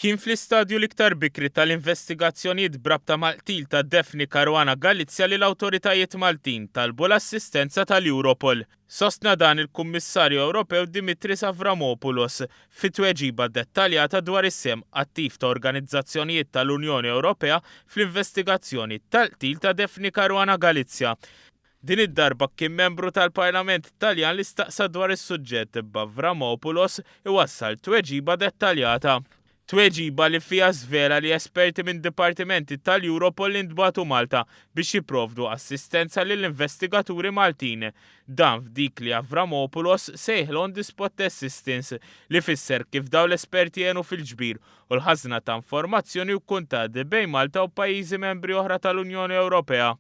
Kien fl-istadju l-iktar bikri tal-investigazzjonijiet brabta mal-qtil ta' Daphne Caruana Galizia li l-awtoritajiet Maltin talbu l-assistenza tal-Europol. Sostna dan il-Kummissarju Ewropew Dimitris Avramopoulos fi tweġiba dettaljata dwar is-sehem attiv ta' organizzazzjonijiet tal-Unjoni Ewropea fl-investigazzjoni tal-qtil ta' Daphne Caruana Galizia. Din id-darba kien membru tal-Parlament Taljan li staqsa dwar is-suġġett b'Avramopoulos iwassal tweġiba dettaljata. Tweġiba li fiha żvela li esperti minn dipartimenti tal-Europol intbagħtu Malta biex jipprovdu assistenza lill-investigaturi Maltin. Dan f'dik li Avramopoulos sejħilha on the spot assistance li fisser kif dawn l-esperti għenu fil-ġbir u l-ħażna ta' informazzjoni u kuntatt bejn Malta u pajjiżi membri oħra tal-Unjoni Ewropea.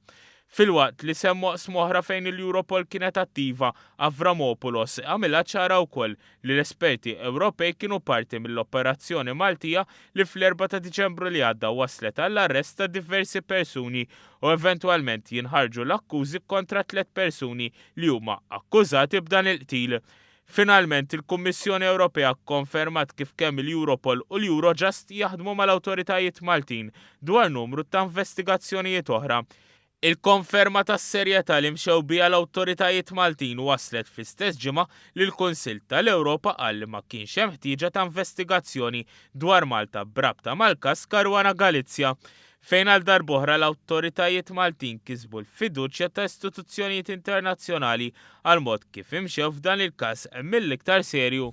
Filwaqt li semma oqsma oħra fejn il-Europol kienet attiva, Avramopoulos għamilha ċara wkoll li l-esperti Ewropej kienu parti mill-operazzjoni Maltija li fl-Erbgħa ta' Diċembru li għadda wasslet għall-arrest ta' diversi persuni u eventwalment jinħarġu l-akkużi kontra tliet persuni li huma akkużati b'dan il-qtil. Finalment, il-Kummissjoni Ewropea kkonfermat kif kemm il-Europol u l-Eurojust jaħdmu mal-awtoritajiet Maltin dwar numru ta' investigazzjonijiet oħra. Il-konferma tas-serjetà li mxew biha l-awtoritajiet Maltin waslet fl-istess ġimgħa li l-Kunsill tal-Ewropa qal li ma kienx hemm ħtieġa ta' investigazzjoni dwar Malta b'rabta mal-każ Caruana Galizia. fejn għal darb'oħra l-awtoritajiet Maltin kisbu l-fiduċja ta' istituzzjonijiet internazzjonali għall-mod kif imxew f'dan il-każ mill-iktar serju.